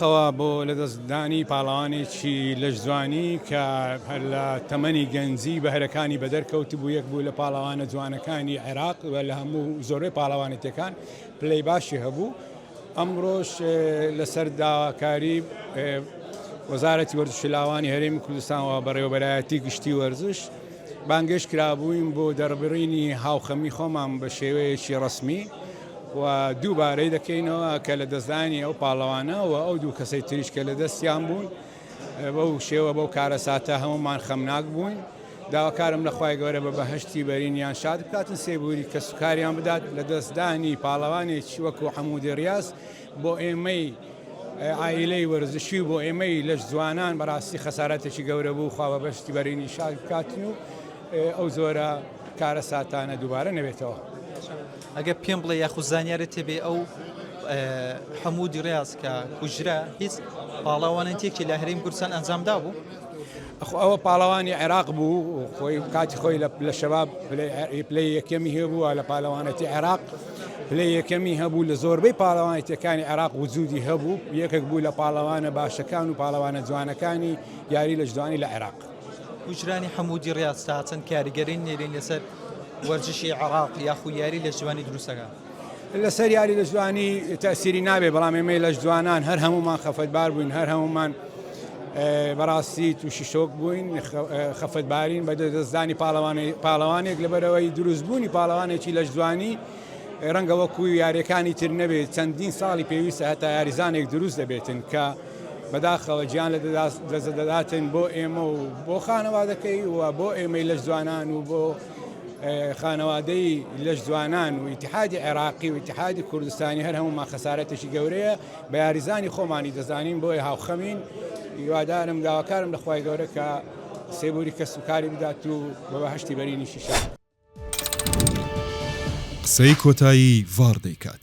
خوا بۆ لەدەست دانی پاڵەوانێکی لەش جوانی کە هەر لە تەمەنی گەنجی بەهرەکانی بەدەر کەوتبوو یەک بوو لە پاڵەوانە جوانەکانی عێراق و لە هەموو زۆربەی پاڵەوانێتیەکان پلەی باشی هەبوو ئەمڕۆش لەسەر داواکاری وەزارەتی وەرزشی لاوانی هەرێمی کوردستان و بەڕێوەبەرایەتی گشتی وەرزش بانگێش کرابووین بۆ دەربڕینی هاوخەمی خۆمان بە شێوەیەکی ڕسمی و دووبارەی دەکەینەوە کە لە دەستدانی ئەو پاڵەوانە و ئەو دوو کەسەی تریش کە لە دەستیان بوون بەو شێوە بەو کارەساتە هەمومان خەمناک بووین داواکارم لە خوای گەورە بە بەهشتی بەرینیان شاد بکاتن سێبووری کە سوکاریان بدات لە دەستدانی پاڵەوانێکی وەکو حەمودی ڕاست بۆ ئێمەی عیلەی وەرزشی بۆ ئێمەی لەش جوانان بەڕاستی خەسارەتێکی گەورە بوو خوا بە بەشتی بەرینی شاد بکاتن و ئەو زۆرە کارە ساتانە دووبارە نەبێتەوە. ئەگەر پێم بڵێ یاخود زانیارت تێبێ ئەو حەموو دیڕاز کە کوژرا هیچ پاڵاوانن تێکی لە هەریم کوردستان ئەنجامدا بوو ئەوە پاڵەوانی عێراق بوو خۆی کاتی خۆی لە شەباب پلی یەکەمی هەبووە لە پالەوانەتی عێراق پلی یەکەمی هەبوو لە زۆربەی پاڵەوانێتەکانی عێراق وجودی هەبوو یەکێک بوو لە پاڵەوانە باشەکان و پاڵەوانە جوانەکانی یاری لە جوانی لە عێراق کوژرانی حەمودی ڕیاز تا چەند کاریگەری نێرین لەسەر وەرزشی عێراق یاخو یاری لەشجوانی دروست دەکات؟ لەسەر یاری لەشجوانی تەئسیری نابێت، بەڵام ئێمەی لەشجوانان هەر هەموومان خەفەتبار بووین، هەر هەموومان بەڕاستی تووشی شۆک بووین، خەفەتبارین بە لەدەستدانی پاڵەوانێک، لەبەرئەوەی دروستبوونی پاڵەوانێکی لەشجوانی ڕەنگە وەکو یارییەکانی تر نەبێت، چەندین ساڵی پێویستە هەتا یاریزانێک دروست دەبێتن کە بەداخەوە گیان لە دەست دەداتن بۆ ئێمە و بۆ خانەوادەکەی و بۆ ئێمەی لەش جوانان و بۆ خانەوادەی لەش جوانان و ئیتحادی عێراقی و ئیتحادی کوردستانی هەر هەموومان خەسارەتێکی گەورەیە بە یاریزانی خۆمانی دەزانین بۆیە هاوخەمین هیوادارم داواکارم لە خوای گەورە کە سێبوری کەس و کاری بدات و بە بەهەشتی بەرینیشی شاد قسەی کۆتایی ڤاڕ دەیکات.